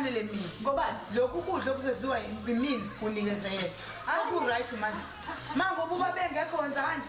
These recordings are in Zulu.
kufanele mina ngoba lokhu kudla okuzodliwa yimina kunikezeyela sekuright manje mangoba uba bengekho wenza kanje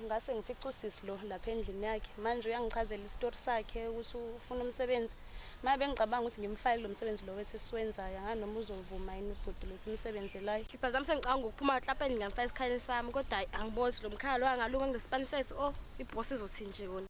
Ngase ngifica usisi lo lapha endlini yakhe manje uyangichazela isitori sakhe ukuthi ufuna umsebenzi manje bengicabanga ukuthi ngimfake kulo msebenzi lo wethi siwenzayo angazi noma uzovuma yini ubhuti lo ukuthi umsebenzelayo Sipha zami sengicabanga ukuphuma eklapeni ngamfaka esikhaleni sami kodwa hhayi angibozi lo mkhala lo angalunga kulesipani sethi o oh, ibhosi izothi nje kona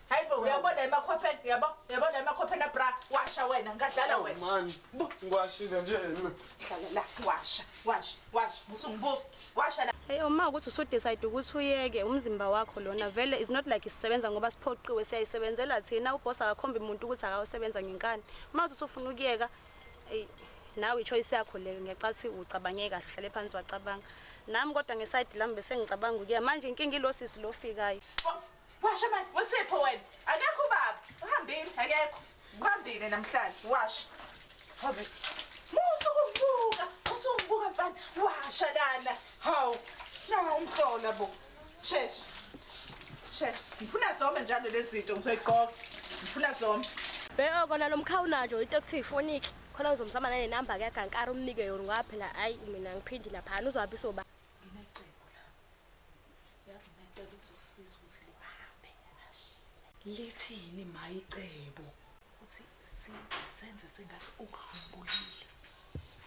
Hayibo uyabona emakhopheni uyabo uyabona emakhopheni abra washa wena ngadlala wena. Man, ngiwashile nje mina. Hlala la washa washa washa musungibuke washa la. Hey uma ukuthi usudecide ukuthi uyeke umzimba wakho lona vele is not like isisebenza ngoba siphoqiwe siyayisebenzela thina uboss akakhombi umuntu ukuthi akawusebenza ngenkani. Uma uthi usufuna ukuyeka ey nawe ichoice yakho leyo ngiyacathi ucabange kahle uhlale phansi wacabanga. Nami kodwa ngeside lami bese ngicabanga ukuyeka manje inkinga ilosisi lofikayo. Washa manje, uSipho wena. Akekho ubaba. Uhambile, akekho. Uhambile namhlanje, washa. Hobhe. Musa ukumbuka, musa ukumbuka mfana. Washa lana. Hawu, shaya umhlola bo. Shesha. Shesha. Ngifuna zome njalo lezi zinto ngizoyigqoka. Ngifuna zome. Bheka kona lo mkhawu najo into ekuthiwa ifoniki. Khona ngizomsama nale number ke kankara umnike yona ngoba phela hayi mina ngiphindi laphana uzohamba isoba. Nginecebo la. Yazi ngicela ukuthi usisize ukuthi lihambe ashiye. Lithini mayicebo? Ukuthi si senze sengathi ukudlumbulile.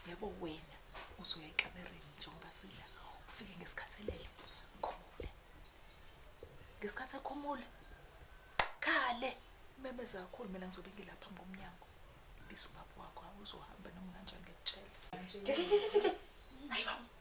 Yebo wena uzoya ekamereni njengoba sila ufike ngesikhathi elele khumule. Ngesikhathi ekhumula khale umemeza kakhulu mina ngizobe ngilapha phambi komnyango. Biza ubaba wakho awuzohamba noma kanjani ngiyakutshela. Hayibo.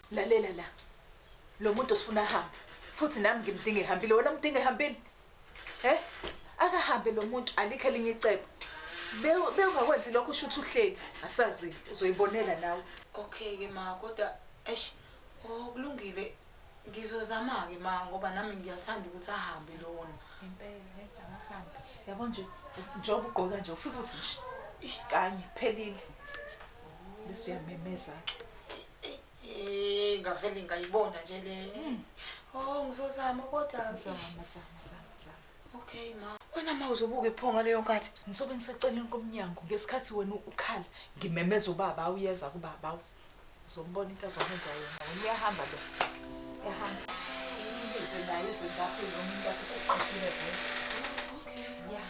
Lalela la. Lo muntu usifuna ahambe. Futhi nami ngimdinga ehambile. Wena umdinga ehambile? Eh? Akahambe lo muntu alikho elinye icebo. Bewu- Bewungakwenzi lokho usho ukuthi uhleli. Asazile. Uzoyibonela nawe. Okay ke ma kodwa eish oh kulungile ngizozama ke ma ngoba nami ngiyathanda ukuthi ahambe lona. Impela akahambe. Yabo nje njengoba ugqoka nje ufike uthi nje ish kanye phelile. Bese uyamemeza ke. Eh, ngavele ngayibona nje le. Hmm. Oh, ngizozama kodwa ngizama zama zama zama. Okay ma. Wena ma uzobuka iphonga leyo nkathi. Ngisobe ngiseceleni komnyango ngesikhathi wena ukhala ngimemeza ubaba uyeza kubaba. Uzombona into azokwenza yena. Uyahamba lo. Ehamba. Sibize naye izingaphi lo muntu akhe sesiqhathile vele. Okay. Yeah.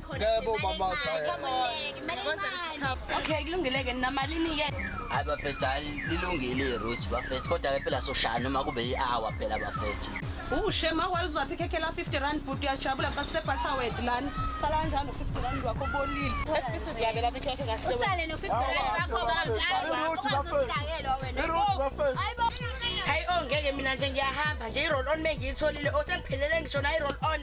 Yebo mama Okay kulungile ke namalini ke Hayi bafethu hayi lilungile iroute bafethu kodwa ke phela soshaya noma kube i-hour phela bafethu Ushema wayuzwaphi ikhekhe la 50 rand bhuti uyajabula xa siseBatterwed lana sala kanjani no-50 rand wakho bolile esibisi ziyabe lapha ikhekhe kahle usale no-50 rand wakho kanjani iroute bafethu iroute bafethu Hayi ongeke mina nje ngiyahamba nje i-roll on mengiyitholile osengiphelele ngisho na i-roll on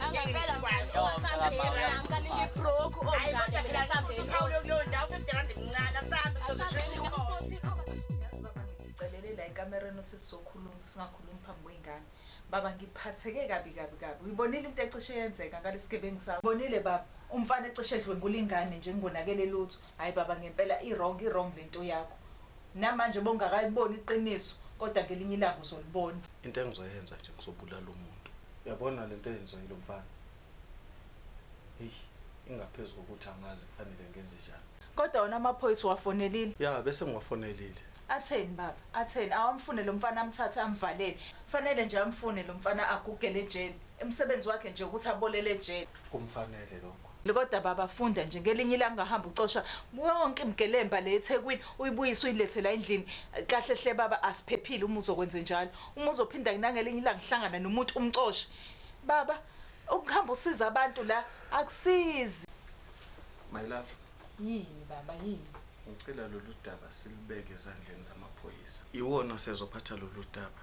celele la ekamereni uthi sizokhuluma singakhulumi phambi kwey'ngane baba ngiphatheke kabi kabi kabi uyibonile into ecishe yenzeka ngalesigebengu sakho bonile baba umfana ecishe edlwengula ingane nje ngingonakele lutho Hayi baba ngempela i wrong i wrong lento yakho namanje bongakayboni iqiniso kodwa ngelinye ilanga uzolibona. Into engizoyenza nje ngizobulala umuntu. Uyabona lento eyenziwa yilomfana eyi ingaphezu kokuthi angazi kufanele ngenzenjani. Kodwa wona amaphoyisa uwafonelile? Ya bese ngiwafonelile. Atheni baba atheni awamfune lomfana amthathe amvalele. Fanele nje amfune lomfana agugele ejele. Umsebenzi wakhe nje ukuthi abolele ejele. Kumfanele lokho. Kodwa baba funda nje ngelinye ilanga ungahamba ucosha yonke imgelemba le eThekwini uyibuyise uyilethe la endlini kahle hle baba asiphephile uma uzokwenze njalo uma uzophinda ngelinye ilanga uhlangana nomuntu umcoshe baba ukuhamba usiza abantu la akusizi my love yini baba yini ngicela lolu daba silubeke ezandleni zamaphoyisa iwona sezophatha lolu daba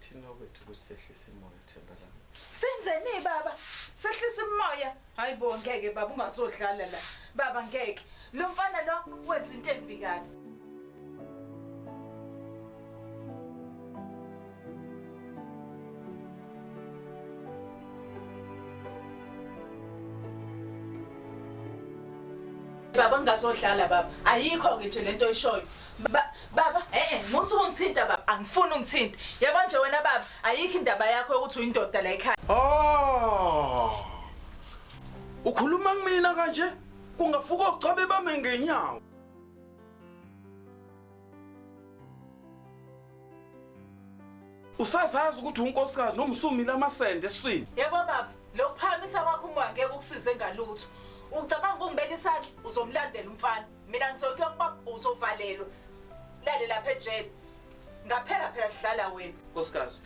thina okwethu ukuthi sehlise imoya themba lami senzeni baba sehlisa umoya hayi bo ngeke baba ungazodlala la baba ngeke lo mfana lo wenza into embi kabi baba ngingazohlala baba ayikho ke nje lento oyishoyo baba eh musu ungithinta baba angifuni ungithinta yabo nje wena baba ayikho indaba yakho yokuthi uyindoda la ekhaya oh ukhuluma kumina kanje kungafuka uchabe bame ngenyawo usazazi ukuthi unkosikazi noma usumile amasende eswini yebo baba lokuphakamisa kwakho umoya ngeke ukusize ngalutho ucabanga ukungibeka isandla uzomlandela umfana mina ngizokuya kubaba uzovalelwa lale lapha ejele ngaphela phela sidlala wena nkosikazi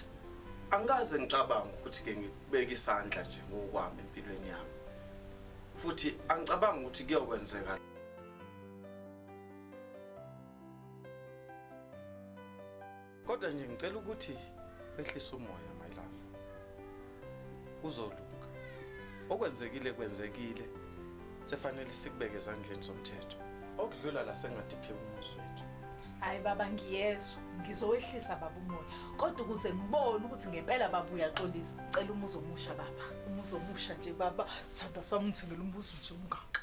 angikaze ngicabanga ukuthi ke ngikubeka isandla nje ngokwami empilweni yami futhi angicabanga ukuthi kuyokwenzeka kodwa nje ngicela ukuthi wehlise umoya my love kuzolunga okwenzekile kwenzekile sefanele sikubeke ezandleni zomthetho okudlula la sengadiphi umuzi wethu hayi baba ngiyezwa ngizowehlisa baba umoya kodwa ukuze ngibone ukuthi ngempela baba uyaxolisa cela umuzi omusha baba umuzi omusha nje baba sithandwa sami ngithengela umbuzo nje ungaka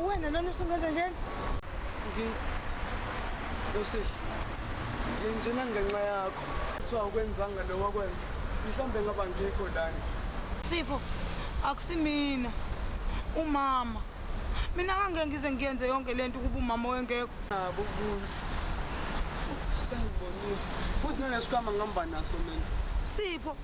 Uwena lona usungenza njani? Ngi Yosisi. Nginjena ngenxa yakho. Kuthiwa ukwenzanga lo wakwenza. Mhlambe ngaba ngikho lana. Sipho akusimina. Umama. Mina ngangeke ngize ngiyenze yonke lento ukuba umama wengekho. Nabo ubuntu. Sengibonile. Futhi nalesikhama ngihamba naso mina. Sipho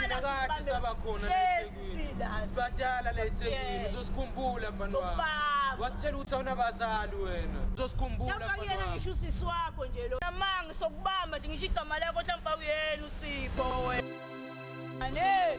sinakade saba khona sibadala la ethekwini uzosikhumbula mfana wami wasitshela ukuthi awunabazali wena uzosikhumbula yena ngisho usisi wakho nje lo namanga sokubamba ndingisho igama lakho hlampe awuyena usipho wena ane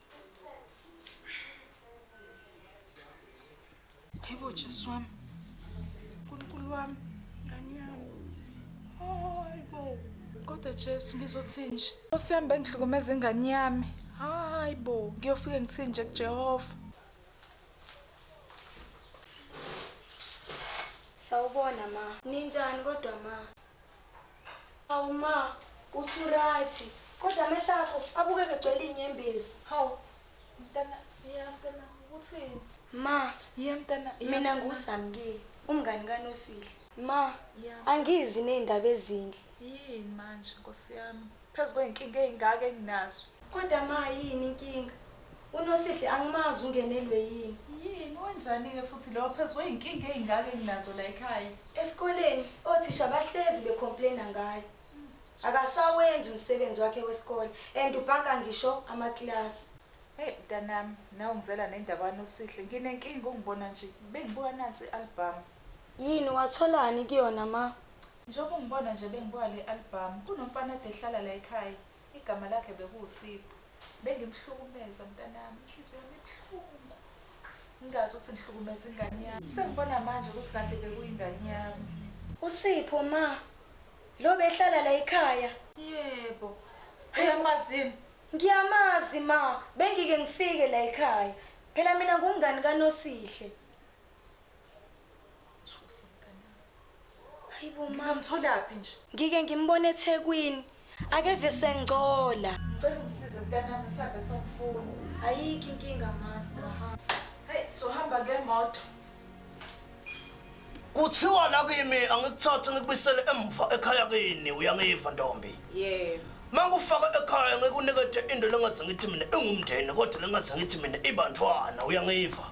Hayibo Jesu wami. Nkulunkulu wami, ngani yami. Hayibo. Kodwa Jesu ngizothini nje? Nkosi yami bengihlukumeza ingane yami. Hayibo, ngiyofike ngithini nje kuJehova. Sawubona ma. Ninjani kodwa ma? Hawu ma, uthi uryt kodwa amehlo akho abukeka egcwele inyembezi. Hawu mntana ya mntana uthini? Ma, ya mntana mina nguSamkeli, umngani kaNosihle. Ma, angizi nezindaba ezinhle. Yini manje nkosi yami? Phezu kwey'nkinga ey'ngaka enginazo. Kodwa ma yini inkinga? UNosihle angimazi ungenelwe yini? Yini? Wenzani-ke futhi lowo phezu kwey'nkinga ey'ngaka enginazo la ekhaya? Esikoleni othisha bahlezi be-complain-a ngaye. Akasawenzi umsebenzi wakhe wesikole and ubhanka ngisho amakilasi. Hheyi mntanami, nawe ungizela nendaba kaNosihle. Nginenkinga ungibona nje, bengibuka nansi i-albhamu. Yini? Watholani kuyona ma? Njengoba ungibona nje bengibuka le albhamu, kunomfana ade ehlala la ekhaya, igama lakhe bekuwuSipho. Bengimhlukumeza mntanami, inhliziyo yami ibuhlungu, ngingazi ukuthi ngihlukumeza ingane yami. Sengibona manje ukuthi kade bekuyingane yami. USipho, Ma, lo obehlala la ekhaya? Yebo. Uyamazi yini? Ngiyamazi, Ma. Bengike ngifike la ekhaya. Phela mina ngumngani kaNosihle. Hayibo mama. Ngamtholaphi nje? Ngike ngimbone eThekwini. Akeve sengcola. Ngicela ungisize mntanami sihambe somfuna. Ayikho inkinga master. Hey, sohamba ngemoto. Kuthiwa la kimi angikuthathe ngikubisele emva ekhaya kini uyangiva ntombi. Yebo. Mangufaka ekhaya ngikunikete into lengaze ngithi mina ingumndeni kodwa lengaze ngithi mina ibantwana uyangiva.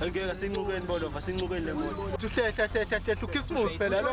Ngeke sincukeni bolova sincukeni lemoto. Uhlehla hlehla hlehla ukhisimusi phela lo.